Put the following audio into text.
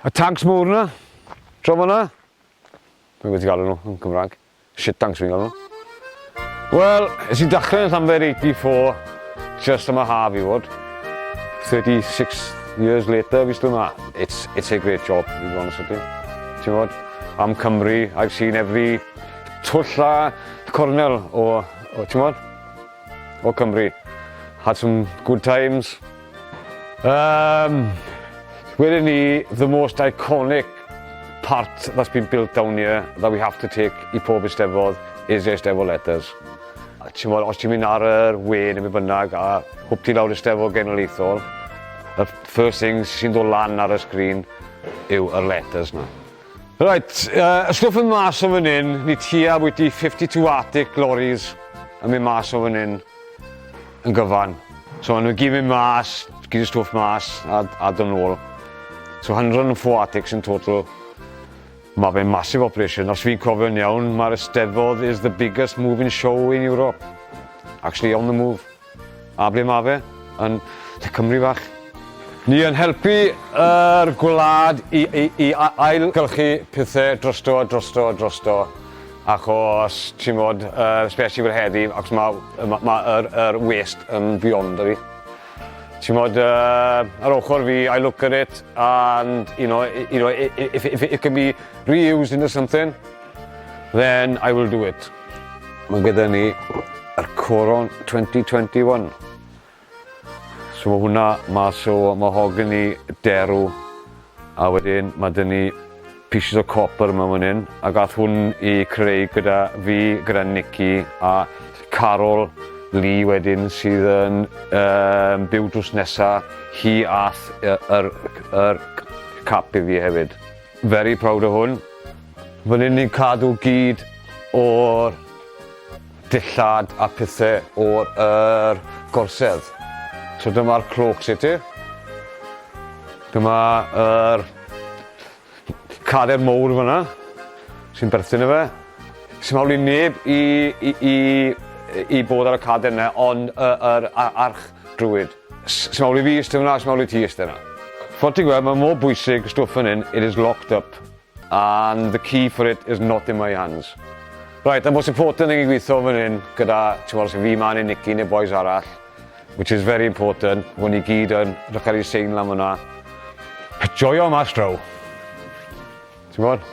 Y tanks mowr 'na, draw fan'na. Dwi'n gwybod ti galw nhw yn Cymraeg. Shit tanks fi'n galw nhw. Wel, es i dachlau'n Llanfair 84, just am y haf i fod. 36 years later, fi still ma. It's, it's a great job, i fod yn sydyn. Ti'n fod, am Cymru, I've seen every twll a cornel o, o ti'n fod, o Cymru. Had some good times, Um, wedyn ni, the most iconic part that's been built down here that we have to take i pob eistefodd is eistefodd letters. Ti'n bod, os ti'n mynd ar yr we neu beth bynnag a hwp ti lawr eistefodd genedlaethol, y first thing sy'n dod lan ar y sgrin yw yr letters na. Reit, uh, ysgwrf yn mas o fan hyn, ni tua bwyty 52 Arctic lorries yn mynd mas o fan hyn yn gyfan. So nhw'n gyd mynd mas, gyd y stwff mas a, a dyn ôl. So 104 Arctics yn total. Mae fe'n massive operation. Os fi'n cofio'n iawn, mae'r Eisteddfod is the biggest moving show in Europe. Actually on the move. A ble mae fe? Yn lle Cymru fach. Ni yn helpu yr gwlad i i i ail gylchu pethe drosto drosto drosto achos ti'n bod yy especially fel heddi achos ma' yy ma' ma' yr yr waste yn beyond ydi? Ti'n bod yy ar ochr fi I look at it and you know i- you know i- i- if it if it can be re-used into something then I will do it. Mae gyda ni yr Coron 2021. So mae hwnna mas o mahogany derw a wedyn mae dyn ni pieces o copper yma fan hyn a gath hwn i creu gyda fi, gyda Nicky a Carol Lee wedyn sydd yn um, byw drws nesa hi ath yr, yr, yr cap i fi hefyd. Very proud o hwn. Fan hyn ni'n cadw gyd o'r dillad a pethe o'r er, gorsedd. So dyma'r cloak city. Dyma yr er, cader mowr fyna sy'n berthyn y fe. Sy'n hawl i neb i, i, i, i bod ar y cader yna, ond yr uh, er, arch drwyd. Sut mawl i fi iste fan'na a sut mawl i ti iste 'na. Fel ti'n gweld, mae mor bwysig, stwff fan hyn, it is locked up and the key for it is not in my hands. Right, a most important thing i gweithio fan hyn gyda, ti'n gweld, sy'n fi man i Nicky neu boys arall, which is very important, hwn i gyd yn rhywch ar ei sein lan fyna. Joio mas draw. Ti'n gwybod?